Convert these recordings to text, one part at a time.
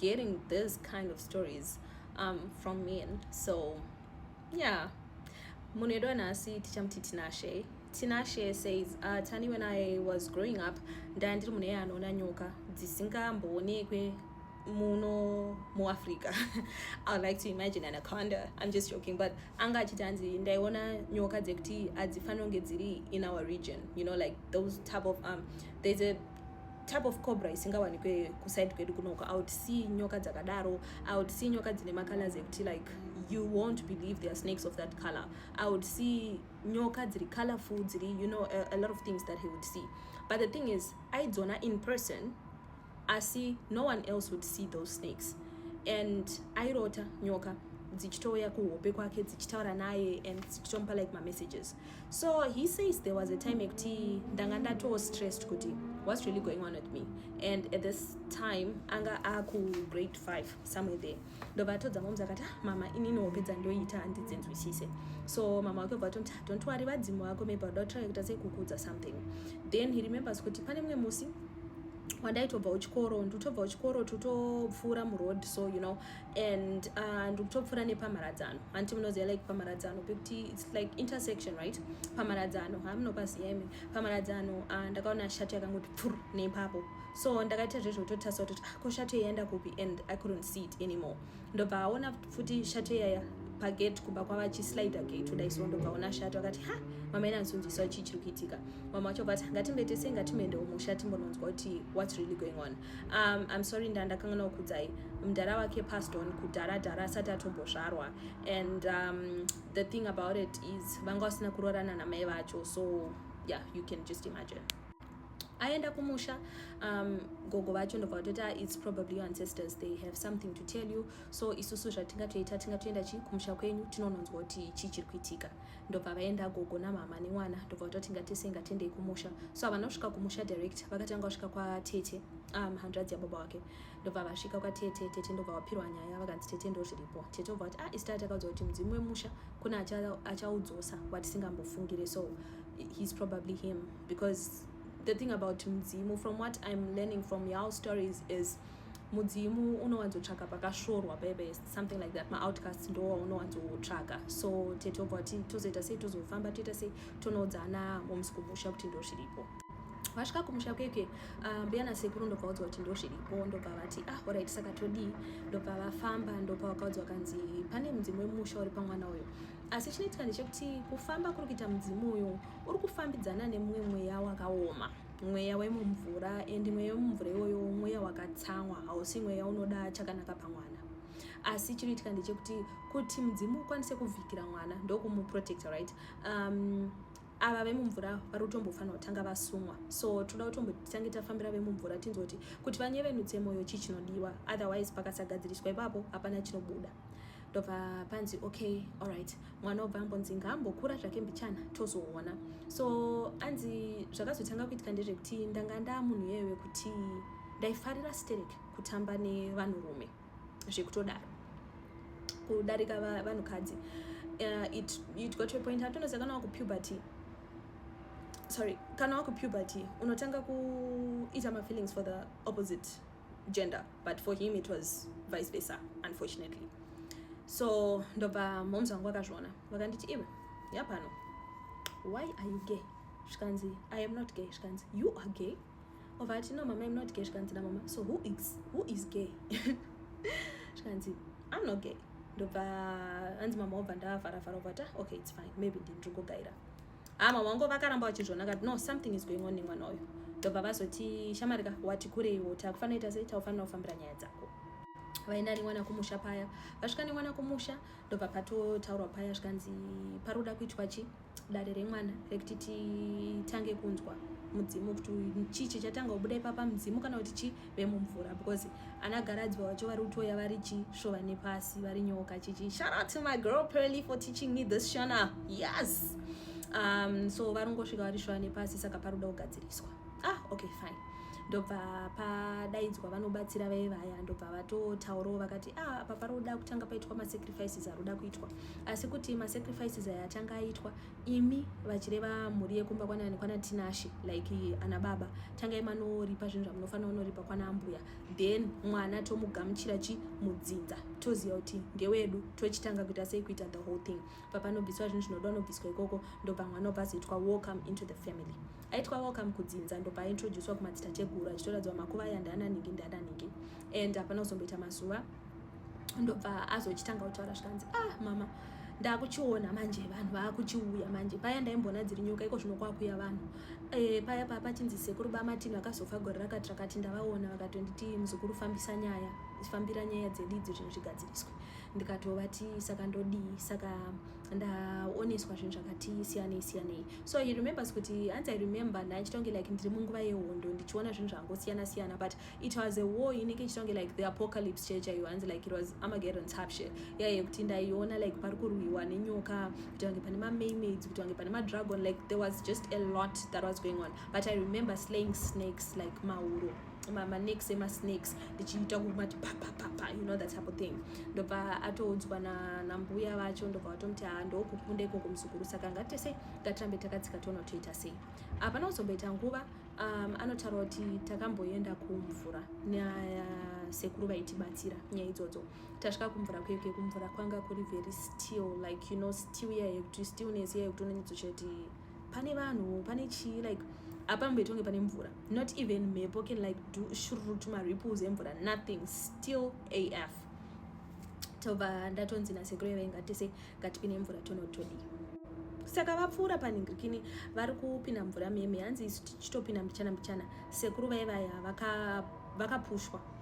getting this kind of stories um, from men so yeah munhu edu anhasi tichamuti tinashe tinashe says uh, tani when i was growing up ndaya ndiri munhu eye anoona nyoka dzisingamboonekwe muno muafrica i would like to imagine anaconda i'm just joking but anga achiti hanzi ndaiona nyoka dzekuti hadzifanonge dziri in our region you know like those type of um, there's a type of cobra isingawanikwe kuside kwedu kunoka i would see nyoka dzakadaro i would see nyoka dzine macolors ekuti like you won't believe there are snakes of that color i would see nyoka dziri colorful dziri you know a, a lot of things that he would see but the thing is aidzona in person asi no one else would see those snakes and airota nyoka dzichitouya kuhope kwake dzichitaura naye and dzichitomupa like mamessages so he says there was a time ekuti ndanga ndatoo stressed kuti what's really going on with me and at this time anga akugrade 5 somewhere there ndobva atodza moms akati ah, mama inini hope dzandoita handidzinzwisise so mama wake bvatomti ah, don't worry vadzimu vako maybe vada kutry kuita sekukudza something then he remembers kuti pane mumwe musi wandaitobva uchikoro ndotobva uchikoro totopfuura muroad so you know and uh, ndikutopfuura uh, nepamharadzano hanti munoziva like pamharadzano pekuti its like intersection right pamharadzano hamunopaziva imi pamharadzano uh, ndakaona shati yakangoti pfur neipapo so ndakaita zvezvo kutotasa kutoti ah, ko shati yaienda kupi and i couldn't see it anymore ndobva aona futi shati yaya pagate kumba kwavachislider gate kudai so ndobva aona shati vakati ha mama ina nzunziswa chii chiri kuitika mama vacho vati ngatimbe tese ngatimeendewo musha timbononzwa kuti whats really going on um, i'm sorry nda ndakanganwa kukudzai mdara wake passed on kudhara dhara asati atombozvarwa and um, the thing about it is vanga vasina kurorana namai vacho so yeah you can just imagine aenda kumusha um, gogo vacho ndobva vatoti ah, its probably your ancestors they have something to tell you so isusu zvatingatoita tingatoenda chi kumusha kwenyu tinononzwa kuti chii chiri kuitika ndobva vaenda gogo namama nemwana ndobva vatoti ngatese ngatendei kumusha so havana kusvika kumusha direct vakatanga kusvika kwatete um, hanzvadzi yababa wake ndobva vasvika kwatete tete ndobva vapirwa nyaya vakanzi tete ndo zviripo tete obva vati ah isitati akaudza kuti mudzimu wemusha kune achaudzosa watisingambofungire so he's probably him because the thing about mudzimu from what i'm learning from your stories is mudzimu unowanzotsvaka pakasvorwa bebe something like that maoutcast ndo waunowanzotsvaka so tete obva ti tozoita sei tozofamba toita sei tonoudza ana moms kumusha kuti ndo zviripo vasvika kumusha kweke ah, mbuya nasekuru ndobva vaudzwa kuti ndo zviripo ndobva vati ah orit saka todii ndobva vafamba ndobva vakaudzwa kanzi pane mudzimu wemusha uri pamwana uyo asi chinoitika ndechekuti kufamba kuri kuita mudzimu uyu uri kufambidzana nemumwe mweya wakaoma mweya wemumvura and mweya wemumvura iwoyo mweya wakatsamwa hausi mweya unoda chakanaka pamwana asi chinoitika ndechekuti kuti mudzimu ukwanise kuvhikira mwana ndokumuprotecta right um, ava vemumvura vari kutombofanira kutanga vasumwa so toda kutombotange tafambira vemumvura tinzwa kuti kuti vanyevenutse mwoyo chii chinodiwa otherwise pakasagadziriswa ipapo hapana chinobuda ndobva panzi okay allright mwana obva ambonzi ngaambokura zvake mbichana tozoona so anzi zvakazotanga kuitika ndezvekuti ndanga ndaa munhu iyeyo wekuti ndaifarira sterek kutamba nevanhurume zvekutodaro kudarika vanhukadzi uh, it, it got to a point hatonoziva kana wakupuberty sorry kana wakupuberty unotanga kuita mafeelings for the opposite gender but for him it was vice versa unfortunately so ndobva moms vangu vakazviona vakanditi iwe yapano why are you gay zvikanzi i am not gay zvikanzi you are gay ova ati no mama im not gay zvikanzi namama so who is, who is gay zvikanzi i'm not gay ndobva anzi mama obva ndavharavhara obva ta okay its fine maybe ndini ndiri kugaira hama wangu vakaramba vachizviona kati no something is going on nemwana uyu ndobva vazoti shamari ka wati kureiwo takufanoita sei taufanira kufambira nyaya dzako vaenda nemwana kumusha paya vasvika nemwana kumusha ndobva patotaurwa paya zvikanzi pari kuda kuitwa chi dare remwana rekuti titange kunzwa mudzimu kuti chii chichatanga kubuda ipapa mudzimu kana kuti chii vemumvura because ana garadzwa wacho vari kutoya vari chisvova nepasi vari nyoka chichi shout out to my girl pearly for teaching me this shona yes um, so vari kungosvika vari shuva nepasi saka pari kuda kugadziriswa ah okay fine ndobva padaidzwa vanobatsira vaye vaya ndobva vatotaurawo vakati ah apa pari kuda kutanga paitwa masacrifices ari kuda kuitwa asi kuti masacrifices aya atanga aitwa imi vachireva mhuri yekumba kwanani kwana tinashe like ana baba tangai manoripa zvinhu zvamunofanira unoripa kwana ambuya then mwana tomugamuchira chi mudzinza toziva kuti ndewedu tochitanga kuita sei kuita the whole thing papanobviswa zvinhu zvinoda unobviswa ikoko ndobva mwana obva azoitwa welcome into the family aitwa welcome kudzinza ndobva aintroducwa kumadzita cheguru achitoradziwa makuva aya ndaananhingi ndaananhingi and hapana kuzomboita mazuva ndobva azochitanga kutaura zvikanzi ah mama ndakuchiona manje vanhu vakuchiuya manje paya ndaimbona dziri nyoka iko zvino kwakuya vanhu e, paya paya pachinzi sekuru bamatini vakazofa gore rakati rakati ndavaona vakatonditi muzukuru fambisa nyaya fambira nyaya dzedu idzo zvinhu zvigadziriswe ndikatovati saka ndodii saka ndaoneswa zvinhu zvakati siyanei siyanei so he remembers kuti hanzi i remember ndaichitonge like ndiri munguva yehondo ndichiona zvinhu zvangosiyana siyana but it was a war inenge ichitonge like the apocalypse church ayo hanzi like it was amageddon type shit yaiye yeah, kuti ndaiona like pari kurwiwa nenyoka kuti vange pane mamaymads kuti vange pane madragon like there was just a lot that was going on but i remember slaying snakes like mauro maneks emasnakes ndichiita kumati papapapa you know that type of thing ndobva atoudzwa nambuya vacho ndobva vatomuti haa ndokukunda ikoko muzukuru saka ngatese ngatirambe takatsika toona toita sei apana kuzomboita nguva Um, anotaura kuti takamboenda kumvura nasekuru uh, vaitibatsira nyaya idzodzo tasvika kumvura kuyo ke kumvura kwanga kuri very still like you know still iya yekuti stillness iya yekuti unonyatsochati pane vanhu pane chii like apamboitonge pane mvura not even mhepo can like do shrut maripples emvura nothing still af tobva ndatonzi nasekuru vainga tese ngatipine mvura tonotodii saka vapfuura panhingirikini vari kupinda mvura meme hanzi isu tichitopinda mbichana mbichana sekuru vaivaya vakapushwa vaka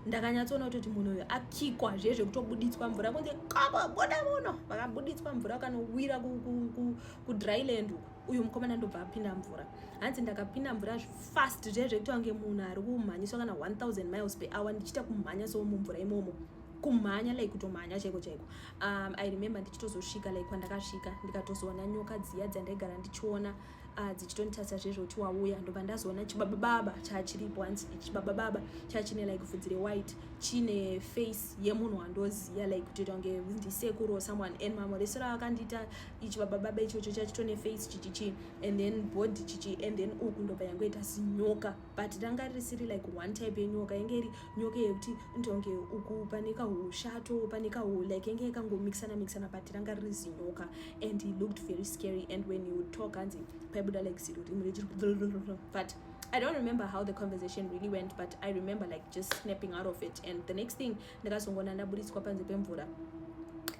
ndakanyatsoona kutoti munhu uyo akikwa zve zvekutobuditswa mvura kunze kaba boda muno vakabuditswa mvura vakanowira kudryland uku uyu mukomana ndobva apinda mvura hanzi ndakapinda mvura fast zve zvekuti wange munhu ari kumhanyiswa kana 1000 miles per hour ndichiita kumhanya so mumvura imomo kumhanya like kutomhanya chaiko chaiko um, i remember ndichitozosvika like kwandakasvika ndikatozoona nyoka dziya dzandaigara ndichiona uh, dzichitonditarisa zvezvoti wauya ndobva ndazoona chibabababa chachiripo hanzi chibabababa chachine like vhudzi rewhite chine face yemunhu wandoziya like kutoita kunge ndisekuru or someone and mamwe reso ravakandiita ichibabababa ichocho chachitone face chichichi and then body chichi and then uku ndobva yangoita zinyoka but ranga risiri like one type yenyoka yenge iri nyoka yekuti ndonge uku pane kahushato pane kahu like yenge yakangomixana mixana but ranga riri zinyoka and he looked very scary and when he would talk hanzi paibuda like ziro rimwe rechiri but I don't remember how the conversation really went, but I remember like just snapping out of it. And the next thing, ndakazongona ndaburitswa panze pemvura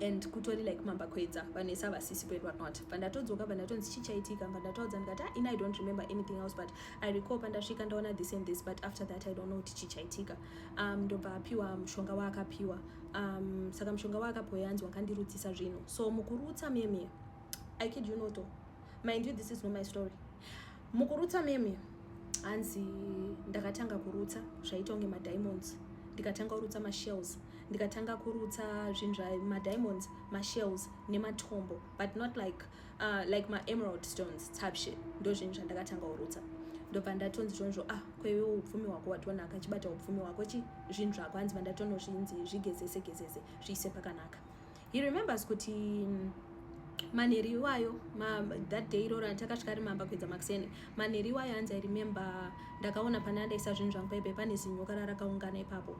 and kutori like mamba kwedza vanhu ese havasisi kwedu vanot pandatodzoka pandatonzi chichaitika pandataudza ndikati ah, ini i don't remember anything else but i recall pandasvika ndaona this and this but after that i don't know kuti chii chaitika um, ndobva apiwa mushonga waakapiwa um, saka mushonga waakapiwa yanzi wakandirutsisa zvinhu so mukurutsa meme i kid you noto mind you this is not my story mukurutsa meme hanzi ndakatanga kurutsa zvaita kunge madiamonds ndikatanga kurutsa mashells ndikatanga kurutsa zvinhu zvamadiamonds mashells nematombo but not like uh, like maemerald stones type shit ndo zvinhu zvandakatanga kurutsa ndobva ndatonzi chonzvo ah kweve upfumi hwako watonaka chibata upfumi hwako chi zvinhu zvako hanzi vandatonozvinzi zvigezese gezese zviise pakanaka he remembers kuti mm, manheri iwayo ma, that day iroro atakasvika ari mamba kuedza makuseni manheri iwayo hanzi i remember ndakaona pane andaisa zvinhu zvangu paipe pane zinyoka rarakaungana ipapo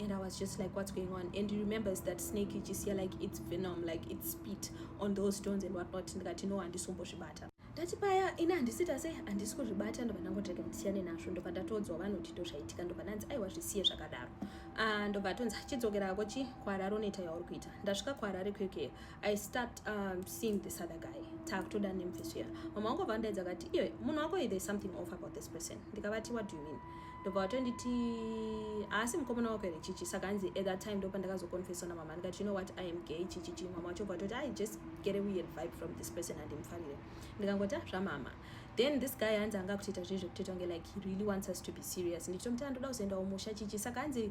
and i was just like what's going on and he remembers that snake ichisiya like its venom like its spit on those stones and what not ndikati no handisombozvibata ndati paya ini handisita sei handisi kuzvibata ndobva ndangotega ndisiyane nazvo ndobva ndatodzwa vanoti ndo zvaitika ndobva ndanzi aiwa zvisiye zvakadaro ah, ndobva atonzi chidzokera ko chi kuharare unoita yauri kuita ndasvika kuharare kwekweyo i start um, seeing this other guy takutoda nemfeso iya mama wangu vavandaidza vakati iwe munhu wako there is something off about this person ndikavati what do you mean ndobva vatonditi haasi mukomana wako here chichi saka hanzi at that time ndopandakazoconfesa namama ndikati you know what i am gay chichichi mama wacho bva toti i just get a weird vibe from this person handimfarire ndikangoti ah, zvamama then this guy hanzi anga kutoita zvezvekutoita kunge like he really wants us to be serious ndikitomuti andoda kuzoendawo musha chichi saka hanzi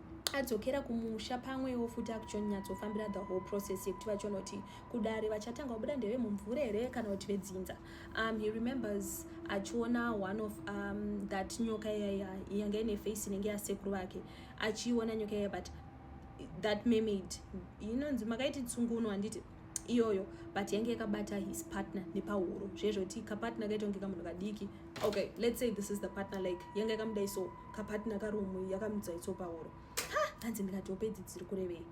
adzokera kumusha pamwewo futi akuchonyatsofambira the whole process yekuti vachonoti kudare vachatanga vabuda ndeve mumvura here kana kuti vedzinza um, he remembers achiona one of um, that nyoka iyaya yanga ine face inenge yasekuru vake achiiona nyoka iyaya but that mermaid inonzi makaiti tsunguno handiti iyoyo but yange yakabata his partner nepahuro zvezvoti kapartner kaita kunge kamunhu kadiki okay let's say this is the partner like yange yakamudai so kapartner karumu yakamudzai so pahuro ha hanzi ndikati opedzi dziri kurevei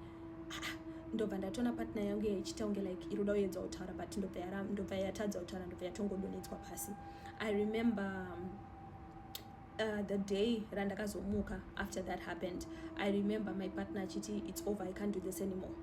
ndobva ndatona partner yangu yaichita kunge like iroda uedza kutaura but ndobva yatadza kutaura ndobva yatongodonetswa pasi i remember um, Uh, the day randakazomuka after that happened i remember my partner achiti its over i can't do this anymore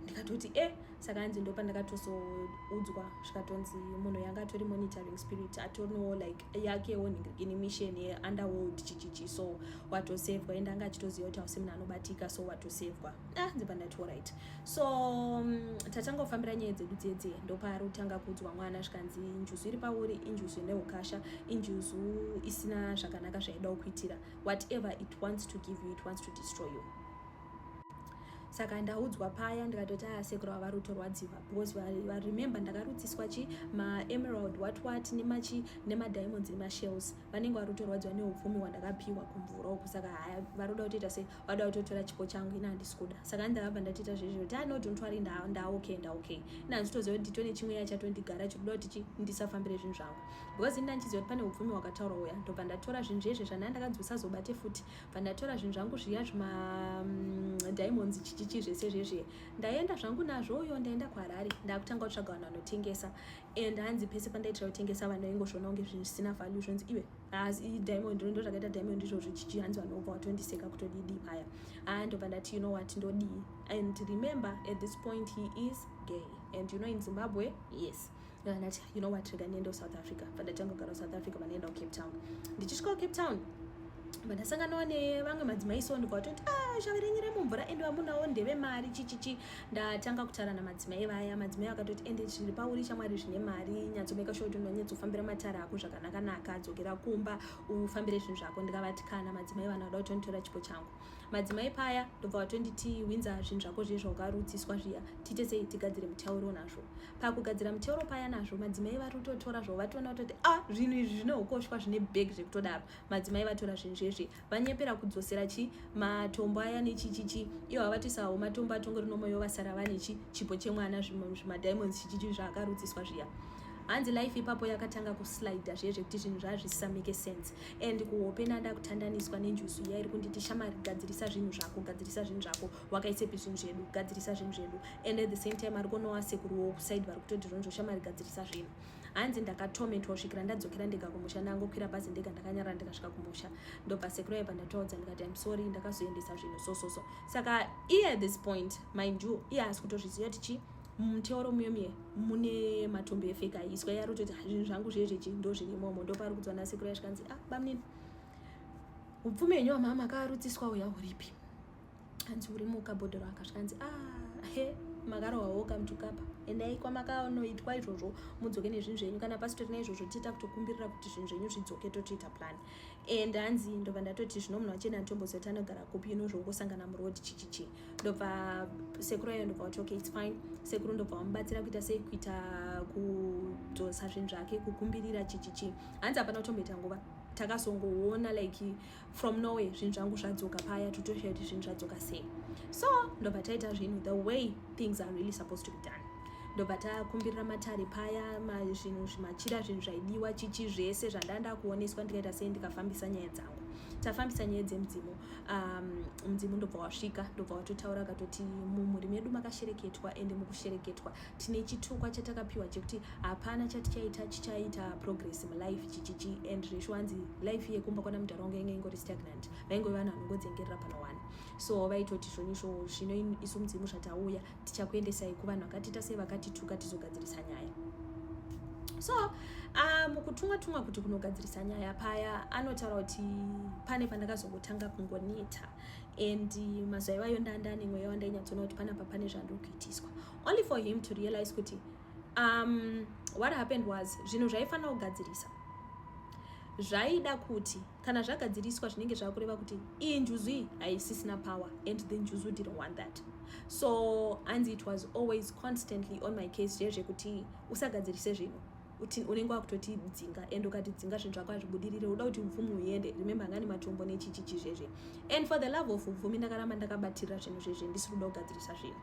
ndikatoti e eh, saka anzi ndo pandakatozoudzwa zvikatonzi munhu yanga atori monitoring spirit atonowo like yakewo in mission yeunderworld chichichi so watosevwa ende anga achitoziva kuti hausi munhu anobatika so watosevwa ah ndibva ndati orit so um, tatanga kufambira nyaya dzedu dzedze ndopaari kutanga kuudzwa mwana zvikanzi njuzu iri pauri injuzu ine ukasha injuzu isina zvakanaka zvaida kukuitira whatever it wants to give you it wants to destroy you saka ndaudzwa paya ndikatoti aya ah, sekuru ava ruto rwadziva because varemember ndakarudziswa chi maemerald what what nemachi nemadiamonds nemashells vanenge varuto rwadziva neupfumi hwandakapiwa kumvura uku saka haya varoda kutoita se vada kutotora chipo changu ini handisi kuda saka ani ndakabva ndatiita zvezvo kuti ano don't worry ndaokay ndaokay ini handitoziva kuti nditone chimwe ya chatondigara chiri kuda kuti ndisafambire zvinhu zvangu because ini ndandichiziva kuti pane upfumi hwakataurwa uya ndobva ndatora zvinhu zvezve zvandanga ndakanzi usazobate futi bva ndatora zvinhu zvangu zviya zvimadiamonds mm, chichichi zvese zvezviye ndaenda zvangu nazvo uyo ndaenda kuharare ndakutanga kutsvaga vanhu vanotengesa and hanzi pese pandaitira kutengesa vanhu vaingozviona kunge zvisina value zvonzi iwe haasi ah, diamond ndo zvakaita diamond izvozvo chichi hanzi vanhu vobva watondiseka kutodidi paya haa ah, ndobva ndati you know what ndodii and remember at this point he is gay and you know in zimbabwe yes ndati you know what rega ndiendewo south africa bva ndatanga kugara south africa vandiendawo cape town ndichisvikawo cape town bva ndasanganawo nevamwe madzimai so ndobva watoti a ah, shave renyu remumvura ende vamunawo ndeve mari chichichi ndatanga kutaura namadzimai vaya madzimai vakatoti ende zviri pauri shamwari zvine mari nyatsomeka sure kuti unonyatsofambira matara ako zvakanakanaka dzokera kumba ufambire zvinhu zvako ndikavati kana madzimai vana vada kutonditora chipo changu madzimai paya ndobva vatonditi winza zvinhu zvako zviye zvaukarudziswa zviya tiite sei tigadzire mutauro nazvo pakugadzira mutauro paya nazvo madzimai vari kutotora zvavo vatoona kutoti a ah, zvinhu izvi zvine ukoshwa zvine bheg zvekutodaro madzimai vatora zvinhu zvezvi vanyepera kudzosera chi matombo aya nechichichi iyo havatisawo matombo atongori nomoyo vasara vane chi chipo chemwana zvimadiamonds chichichi zvaakarudziswa zviya hanzi life ipapo yakatanga kuslida zviye zvekuti zvinhu zvazvisamike sense and kuhope nada kutandaniswa nenjusu iya iri kunditi shamari gadzirisa zvinhu zvako gadzirisa zvinhu zvako wakaisepi zvinhu zvedu gadzirisa zvinhu zvedu and at the same time ari kunowa sekuruwo kusaid vari kutoti zvonzvo shamari gadzirisa zvinhu hanzi ndakatomentwa kusvikira ndadzokera ndega kumusha ndangokwira bhazi ndega ndakanyarara ndikasvika kumusha ndobva sekuru aiva ndataudza ndikati im sorry ndakazoendesa zvinhu so so so saka iye at this point mind you iye haasi kutozviziva kuti chii muteoro muyo miye mune matumbi efeka iswa yari kutoti zvinhu zvangu zviye zvechi ndo zvirimomo ndopari kudzwa nasekuru yasvikanzi ah bamunini upfume henyu wamama akarutsiswa uya uripi hanzi uri mukabhodhero aka zvikanzi a ah, he makarohwawo kamtukapa endai kwamakanoitwa izvozvo mudzoke nezvinhu zvenyu kana pasitori naizvozvo tiita kutokumbirira kuti zvinhu zvenyu zvidzoke totoita plan and hanzi ndobva ndatoti zvino munhu wachena atombozoti anogara kupi ino zvongosangana muroad chichichi ndobva sekuru ayo ndobva wati okay its fine sekuru ndobva wamubatsira kuita sei kuita kudzosa zvinhu zvake kukumbirira chichichi hanzi hapana kutomboita nguva takazongoona like from norway zvinhu zvangu zvadzoka paya totosha kuti zvinhu zvadzoka sei so ndobva taita zvinhu the way things are really supposed to be done ndobva takumbirira matare paya zvinhu zvimachira zvinhu zvaidiwa chichi zvese zvandanda kuoneswa ndikaita sei ndikafambisa nyaya dzangu tafambisa nyaya dzemudzimu um, mudzimu ndobva wasvika ndobva watotaura akatoti mumhuri medu makashereketwa ende mukushereketwa tine chitukwa chatakapiwa chekuti hapana chatichaita chichaita progress mulife chichichi and zvishu hanzi life yekumba kwana mudhara wangu yange ingori stagnant vaingove vanhu vanongodzengerera pana wani so vaitoti zvonyisho zvino isu mudzimu zvatauya tichakuendesai kuvanhu vakatiita sei vakatituka tizogadzirisa nyaya so ah, mukutumwa um, tumwa kuti kunogadzirisa nyaya paya anotaura kuti pane pandakazongotanga kungoneta and mazuva ivayo ndandanimweya wandainyatsoona kuti panapa pane zvandiri kuitiswa only for him to realize kuti um, what happened was zvinhu zvaifanira kugadzirisa zvaida kuti kana zvagadziriswa zvinenge zvava kureva kuti iyi njuzu iyi haisisina power and the njuzu didn't want that so anzi it was always constantly on my case zviye zvekuti usagadzirise zvinhu unenge wakutoti dzinga and ukati dzinga zvinhu zvako hazvibudirire uda kuti mvumi uende remember angani matombo nechichichi zvezve and for the love of mvumi ndakaramba ndakabatirira zvinhu zvezve ndisiri kuda kugadzirisa zvinhu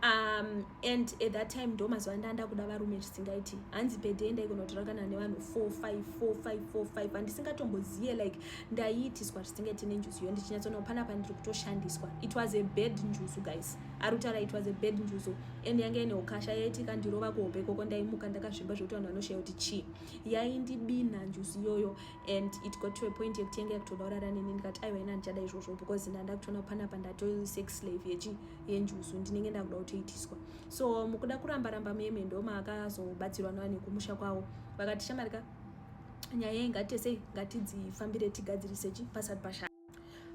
um, and at that time ndo mazuva anda ndakuda varume zvisingaiti hanzi pede ndaikonotora kana nevanhu 454545 handisingatombozive like ndaiitiswa zvisingaiti nenjuzu iyo ndichinyatsoona kupana pandiri kutoshandiswa it was a bad njuzu guys ari kutaura it was a bad njuzu and yanga ine ukasha yaiti kandirova kuhope ikoko ndaimuka ndakazvimba zvekuti vanhu vanoshaya kuti chii yaindibina njuzu iyoyo and it got to a point yekuti yanga yakutoda kurara neni ndikati aiwa ina ndichada izvozvo because ndandakutoona kupana pandatosex slave yechi yenjuzu ndinenge ndakuda kutoitiswa so mukuda kuramba ramba meme ndo maakazobatsirwa nani kumusha kwavo vakati shamari ka nyaya iyi ngatiite sei ngatidzifambire tigadzirise chi pasati pasha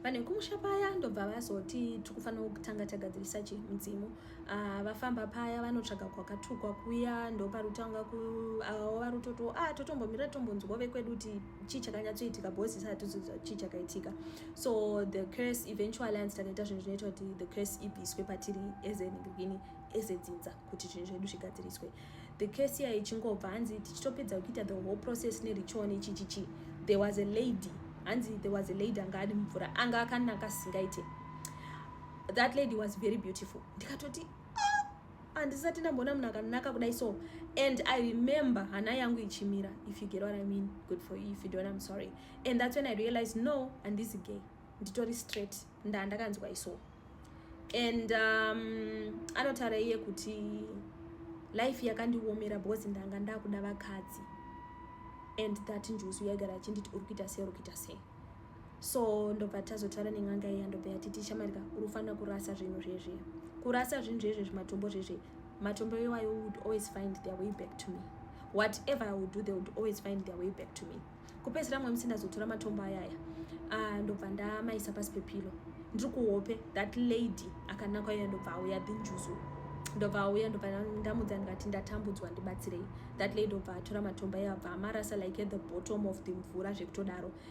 vanhu vekumusha paya ndobva vazoti tiri kufanira kutanga tagadzirisa chi mudzimu uh, vafamba paya vanotsvaga kwakatukwa kuya ndoparutanga ku avo ah, varutoto a ah, totombomira tombonzwa vekwedu kuti chii chakanyatsoitika bhozi isati tizoziva chii chakaitika so the curse eventually anzi takaita zvinhu zvinoita kuti the curse ibviswe patiri ezenhingirikini ezedzinza kuti zvinhu zvedu zvigadziriswe the curse iya ichingobva hanzi tichitopedza kuita the whole process neritual nechichichi there was a lady hanzi there was a lady anga adi mvura anga akanaka singaite that lady was very beautiful ndikatoti handisati ndamboona munhu akanaka kudai so and i remember hana yangu ichimira if you get what i mean good for you if you don't i'm sorry and that's when i realized no handisi gay nditori straight ndaa ndakanzwa iso and um, anotaura iye kuti life yakandiomera because ndanga ndakuda vakadzi and that njuzu yaigara achinditi uri kuita sei uri kuita sei so ndobva tazotaura nen'anga iya ndobva yati tichamarika uri kufanira kurasa zvinhu zvezve kurasa zvinhu zvezve zvimatombo zvezve matombo iwayo would always find their way back to me whatever i would do they would always find their way back to me kupedzisira mwe musi ndazotora matombo ayaya ah, ndobva ndamaisa pasi pepilo ndiri kuhope that lady akanakwa iyo ndobva auya dhinjuzu ndobva auya ndobva ndamudza ndikati ndatambudzwa ndibatsirei that lady obva atora matombo iye abva amarasa like at the bottom of the mvura zvekutodaro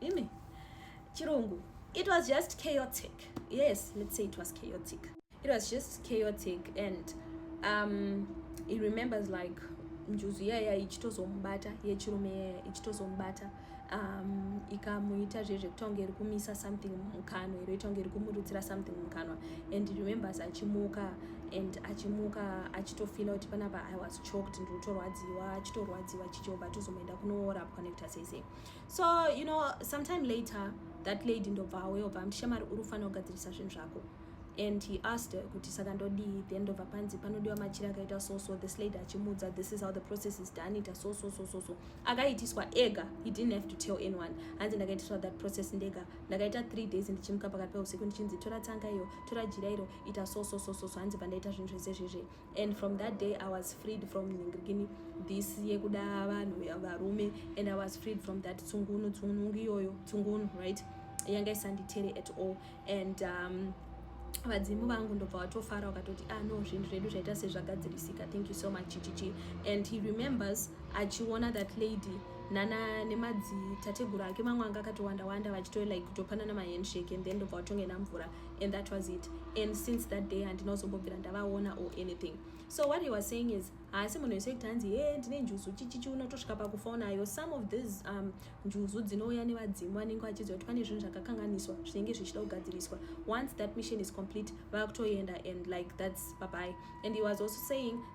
imi chirungu it was just chaotic yes let's say it was chaotic it was just chaotic and um, he remembers like njuzu yaya ichitozomubata yechirume yaya ichitozomubata um, ikamuita zve zvekutonga iri kumisa something mukanwa iro itonga iri kumurutsira something mukanwa and remembers achimuka and achimuka achitofila kuti panapa i was choked ndiri kutorwadziwa achitorwadziwa chichobva tozomaenda kunoorapwa nekuti asese so you know sometime later that lady ndobva aweyobva amti shamari uri kufanira kugadzirisa zvinhu zvako and he asked her kuti saka ndodii then ndobva panzi panodiwa machira akaita so so this lady achimuudza this is how the process is done ita so so so so so akaitiswa ega he didn't have to tell anyone hanzi ndakaitiswa that process ndega ndakaita three days ndichimuka pakati peusiku ndichinzi tora tsanga iyo tora jira iro ita so so so so so hanzi bva ndaita zvinhu zvese zvezve and from that day i was freed from ningirikini this yekuda vanhu varume and i was freed from that tsungunu tsunungu iyoyo tsungunu right yanga isanditere at all and um, vadzimu vangu ndobva watofara wakatoti ah no zvinhu zvedu zvaita sezvagadzirisika thank you so much chichichi and he remembers achiona that lady nana nemadzitateguru ake mamwe anga akatowanda wanda vachito like kutopanana mahandshake and then ndobva watonge namvura and that was it and since that day handina kuzombobvira ndavaona or anything so what he was saying is haasi munhu wese kuti hanzi he ndine njuzu chichichi unotosvika pakufa unayo some of these um, njuzu dzinouya nevadzimu vanenge vachiziva kuti pane zvinhu zvakakanganiswa zvinenge zvichida kugadziriswa once that mission is complete vakutoenda and like that's babai and he was also saying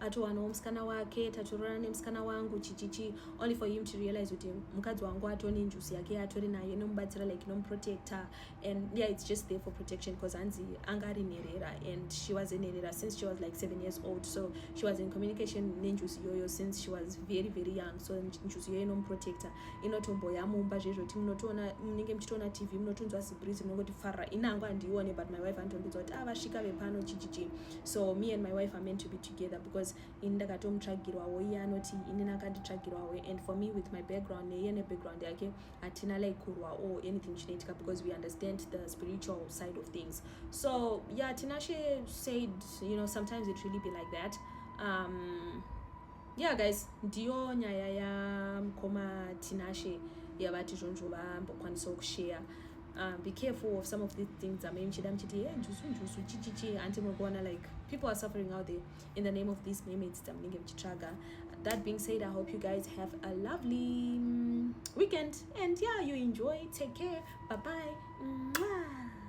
atowanawo musikana wake tatororana nemusikana wangu chichichi only for him to realize kuti mukadzi wangu atone njusi yake atori nayo inomubatsira like inomuprotector and yeah it's just there for protection because hanzi anga ari nherera and she was nherera since she was like seven years old so she was in communication nenjusi iyoyo since she was very very young so njusi iyoyo inomuprotector inotomboya mumba zvezvoti munotoona munenge muchitoona tv munotonzwa zibrizi munongoti farra inangu handiione but my wife anotondinzwa kuti ah vasvika vepano chichichi so me and my wife are meant to be together because ini ndakatomutsvagirwawo iye anoti inini akanditsvagirwawo and for me with my background neiye nebackground yake hatina like kurwa or anything chinoitika because we understand the spiritual side of things so yeah tinashe said you know sometimes it really be like that um, yeah guys ndiyo nyaya yamukoma tinashe yavati zvonzvo vambokwanisawo kusheya Uh, be careful of some of these things amai muchida muchiti he njusu njusu chichichi hanti muri kuona like people are suffering out there in the name of these mermaids dzamunenge muchitsvaga that being said i hope you guys have a lovely mm, weekend and yeah you enjoy take care bye bye Mwah.